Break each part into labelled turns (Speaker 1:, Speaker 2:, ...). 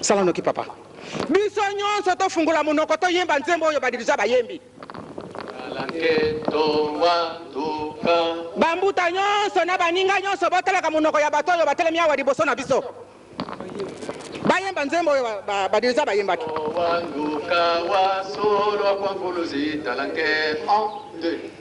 Speaker 1: Sala noki papa. Biso nyonso tofungola monoko toyemba nzembo oyo badirija bayembi. Bambuta nyonso na baninga nyonso botalaka monoko ya bato oyo batelemi awa liboso na biso bayemba nzembo oyo badirija bayembaki.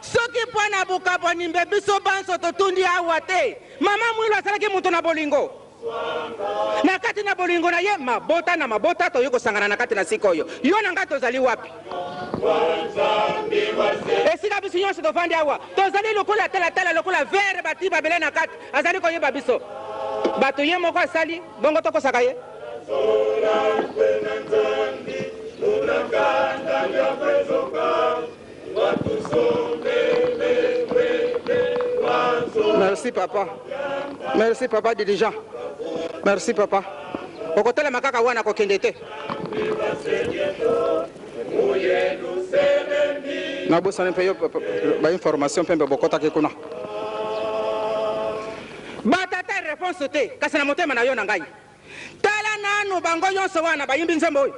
Speaker 1: Soki mpo na bokabwani mbe biso banso totundi awa te, mama Mwilu azalaki moto na bolingo. Na kati na bolingo na ye, mabota na mabota toye kosangana na kati na sika oyo. Yo na ngai tozali wapi? Esika biso nyonso tovandi awa, tozali lokola talatala, lokola vere batii mabele na kati. Azali koyeba biso. Bato ye moko asali, bongo tokosaka ye. Thank you. Merci papa. Merci papa dirigeant. Merci papa. Okotelema kaka wana kokende te. nabosani mpe yo bainformation mpe mpe bokotaki kuna batata reponse te kasi na motema na yo na ngai tala nanu bango nyonso wana bayimbi nzembo oyo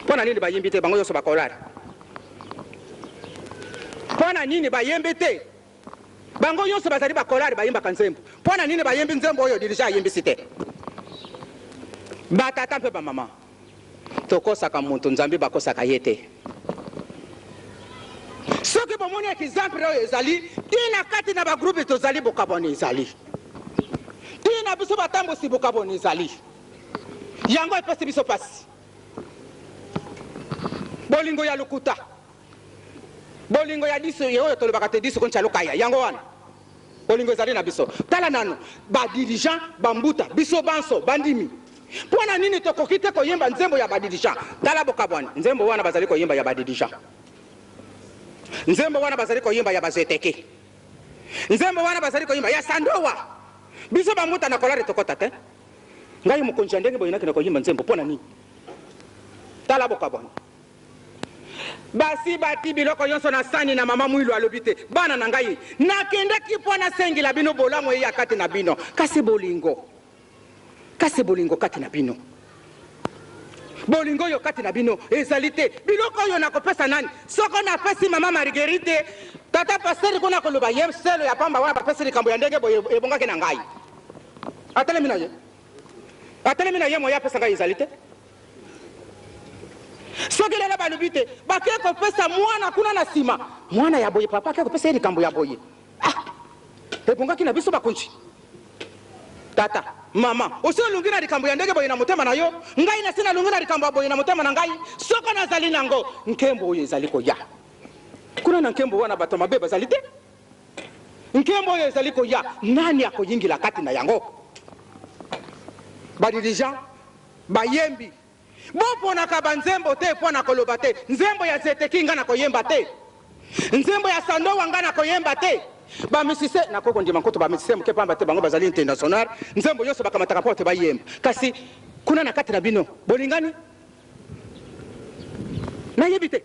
Speaker 1: Pona nini ba yembi te bango yoso ba kolala pona nini ba yembi te bango yoso bazali ba kolala ba yembaka nzembo pona nini ba yembi nzembo oyo dirija ayembisi te ba tata mpe ba mama tokosaka mutu nzambi bakosaka ye te soki bomoni example oyo ezali tina kati na ba groupe tozali bokabwani ezali tina biso batambusi bokabwani ezali Yango epesi biso pasi. Bolingo ya lokuta. Bolingo ya diso ye oyo tolobaka te diso koncha lokaya. Yango wana. Bolingo ezali na biso. Tala nanu. Ba dirigeants ba mbuta. Biso banso ba ndimi. Pona nini tokoki te koyemba nzembo ya ba dirigeants. Tala bokabwani. Nzembo wana bazali koyemba ya ba dirigeants. Nzembo wana bazali koyemba ya ba Zoeteke. Nzembo wana bazali koyemba ya Sandowa. Biso ba mbuta na kolare tokota te. Ngai mokonzi ya ndenge boye nakenda koyimba nzembo pona nini? Tala bokabwani. Basi bati biloko yonso na sani na mama Mwilu alobi te bana na ngai nakendaki mpo nasengela bino bolamu eya kati na bino kasi bolingo kasi bolingo kati na bino bolingo oyo kati na bino ezali te biloko oyo nakopesa nani soko napesi mama Marguerite tata pasteur kuna koloba ye selo ya pamba wana bapesi likambo ya ndenge boye ebongaki na ngai Atelemi na ye. Atelemi na ye moyen apesa ngai ezali te. Soki lelo balobi te bake kopesa mwana kuna na sima mwana ya boye papa ake kopesa ye likambo ya boye. Ah! Ebongaki na biso bakonzi. Tata, mama, osi olungi na likambo ya ndenge boye na motema na yo, ngai nasi nalungi na likambo ya boye na motema na ngai, soko nazali nango, nkembo oyo ezali koya kuna na nkembo wana bato ya mabe bazali te. Nkembo oyo ezali koya, nani akoyingela kati na yango? Badirija, bayembi, boponaka banzembo te mpo na koloba te, Nzembo ya Zeteki ngai nakoyemba te, nzembo ya Sandowa ngai nakoyemba te. Bamisise, nakoki kondima nkutu bamisise moke mpamba te bango bazali international, nzembo nyonso bakamataka mpo ete bayemba. Kasi kuna na kati na bino, bolingani? Nayebi te.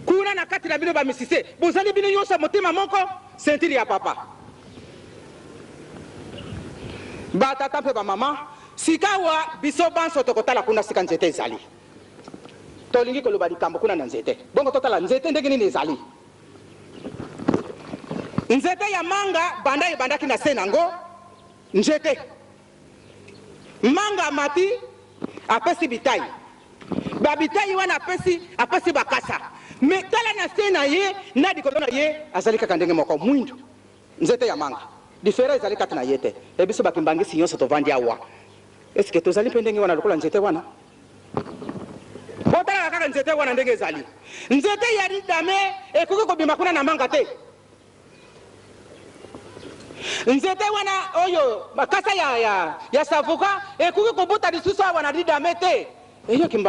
Speaker 1: Kuna na kati na bino ba misise bozali bino nyoso ya motema moko ceinture ya papa ba tata mpe ba mama sikawa biso banso tokotala kuna sika nzete ezali tolingi koloba likambo kuna na nzete bongo totala nzete ndenge nini ezali nzete ya manga banda ebandaki na se nango nzete Manga amati apesi bitayi ba bitayi wana apesi apesi bakasa mais tala na se na ye na likolo na ye azali kaka ndenge moko muindu nzete ya manga different ezali kati na ye te et biso ba kimbanguiste nionso tovandi awa est ce que tozali mpe ndenge wana lokola nzete wana botalaka kaka nzete wana ndenge ezali nzete ya ridame ekoki kobima kuna na manga te Nzete wana oyo makasa ya, ya, ya savoka ekoki kobota lisusu awa na Didame te. Eyoki mbangi.